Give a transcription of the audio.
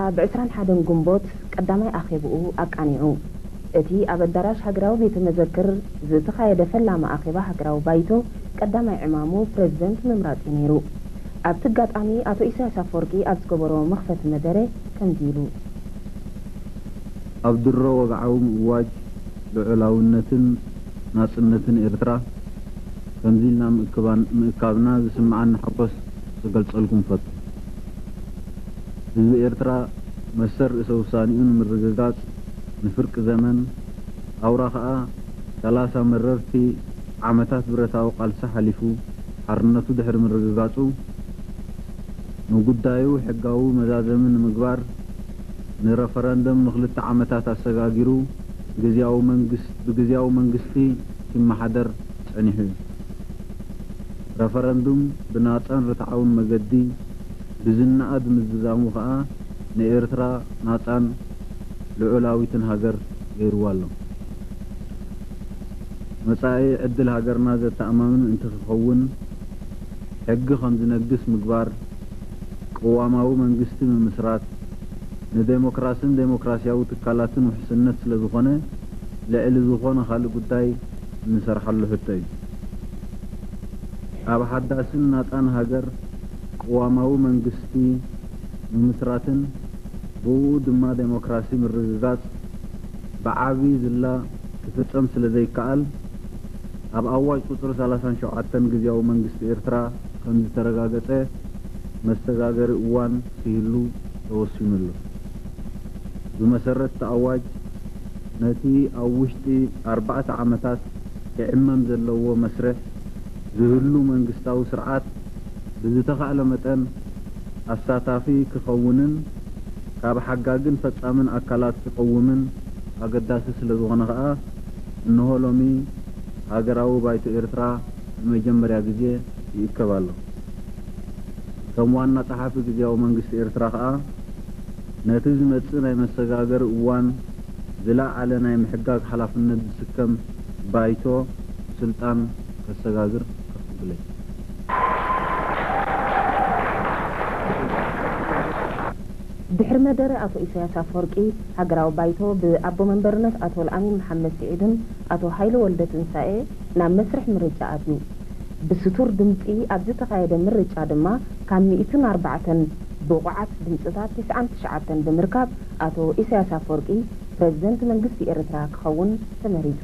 ኣብ ዕስራን ሓደን ግንቦት ቀዳማይ ኣኼብኡ ኣቃኒዑ። እቲ ኣብ ኣዳራሽ ሃገራዊ ቤተ መዘክር ዝተኻየደ ፈላሚ ኣኼባ ሃገራዊ ባይቶ ቀዳማይ ዕማሙ ፕረዚደንት ምምራጽ'ዩ ነይሩ። ኣብቲ ኣጋጣሚ ኣቶ ኢሳያስ ኣፈወርቂ ኣብ ዝገበሮ መኽፈቲ መደረ ከምዚ ኢሉ። ኣብ ድሮ ወግዓዊ ምእዋጅ ልዑላውነትን ናጽነትን ኤርትራ ከምዚ ኢልና ምእካብና ዝስምዓኒ ሓጎስ ክገልጸልኩም እፈቱ። ህዝቢ ኤርትራ መሰል ርእሰ ውሳኔኡ ንምርግጋጽ ንፍርቂ ዘመን፣ ኣውራ ከኣ ሰላሳ መረርቲ ዓመታት ብረታዊ ቃልሲ ሓሊፉ ሓርነቱ ድሕሪ ምርግጋጹ፣ ንጉዳዩ ሕጋዊ መዛዘሚ ንምግባር ንረፈረንደም ንክልተ ዓመታት ኣሰጋጊሩ ግዝያዊ መንግስት ብግዝያዊ መንግስቲ ኪመሓደር ጸኒሑ እዩ። ረፈረንዱም ብናጻን ርትዓውን መገዲ፣ ብዝነኣድ ምዝዛሙ ከኣ ንኤርትራ ናጻን ልዑላዊትን ሃገር ገይሩዋ ኣሎ። መጻኢ ዕድል ሃገርና ዘተኣማምን እንትክኸውን ሕጊ ከምዝነግስ ምግባር፣ ቅዋማዊ መንግስቲ ምምስራት፣ ንደሞክራስን ደሞክራስያዊ ትካላትን ውሕስነት ስለዝኾነ ልዕሊ ዝኾነ ካልእ ጉዳይ እንሰርሓሉ ሕቶ እዩ። ኣብ ሓዳስን ናጻን ሃገር ቅዋማዊ መንግስቲ ምምስራትን ብእኡ ድማ ደሞክራሲ ምርግጋጽ ብዓቢ ዝላ ክፍጸም ስለ ዘይከኣል፣ ኣብ ኣዋጅ ቁጽሪ ሰላሳን ሸውዓተን ግዝያዊ መንግስቲ ኤርትራ ከም ዝተረጋገጸ መሰጋገሪ እዋን ክህሉ ተወሲኑ ኣሎ። ብመሰረት'ቲ ኣዋጅ ነቲ ኣብ ውሽጢ ኣርባዕተ ዓመታት ክዕመም ዘለዎ መስርሕ ዝህሉ መንግስታዊ ስርዓት፣ ብዝተኻእለ መጠን ኣሳታፊ ክኸውንን ካብ ሓጋግን ፈጻምን ኣካላት ክቕውምን ኣገዳሲ ስለዝኾነ ከኣ እነሆ ሎሚ ሃገራዊ ባይቶ ኤርትራ ንመጀመርያ ግዜ ይእከብ ኣሎ። ከም ዋና ጸሓፊ ግዝያዊ መንግስቲ ኤርትራ ከኣ ነቲ ዝመጽእ ናይ መሰጋገሪ እዋን ዝለዓለ ናይ ምሕጋግ ሓላፍነት ዝስከም ባይቶ ስልጣን ከሰጋግር ፍትሕ ትብለይ። ድሕሪ መደረ ኣቶ ኢሳያስ ኣፍወርቂ፣ ሃገራዊ ባይቶ ብኣቦ መንበርነት ኣቶልኣሚን መሓመድ ስዒድን ኣቶ ሃይለ ወልደትንሳኤ ናብ መስርሕ ምርጫ ኣትዩ። ብስቱር ድምጺ ኣብ ዝተኻየደ ምርጫ ድማ ካብ ሚእትን ኣርባዕተን ብቑዓት ድምጽታት ትስዓን ትሽዓተን ብምርካብ ኣቶ ኢሳያስ ኣፍወርቂ ፕረዚደንት መንግስቲ ኤርትራ ክኸውን ተመሪጹ።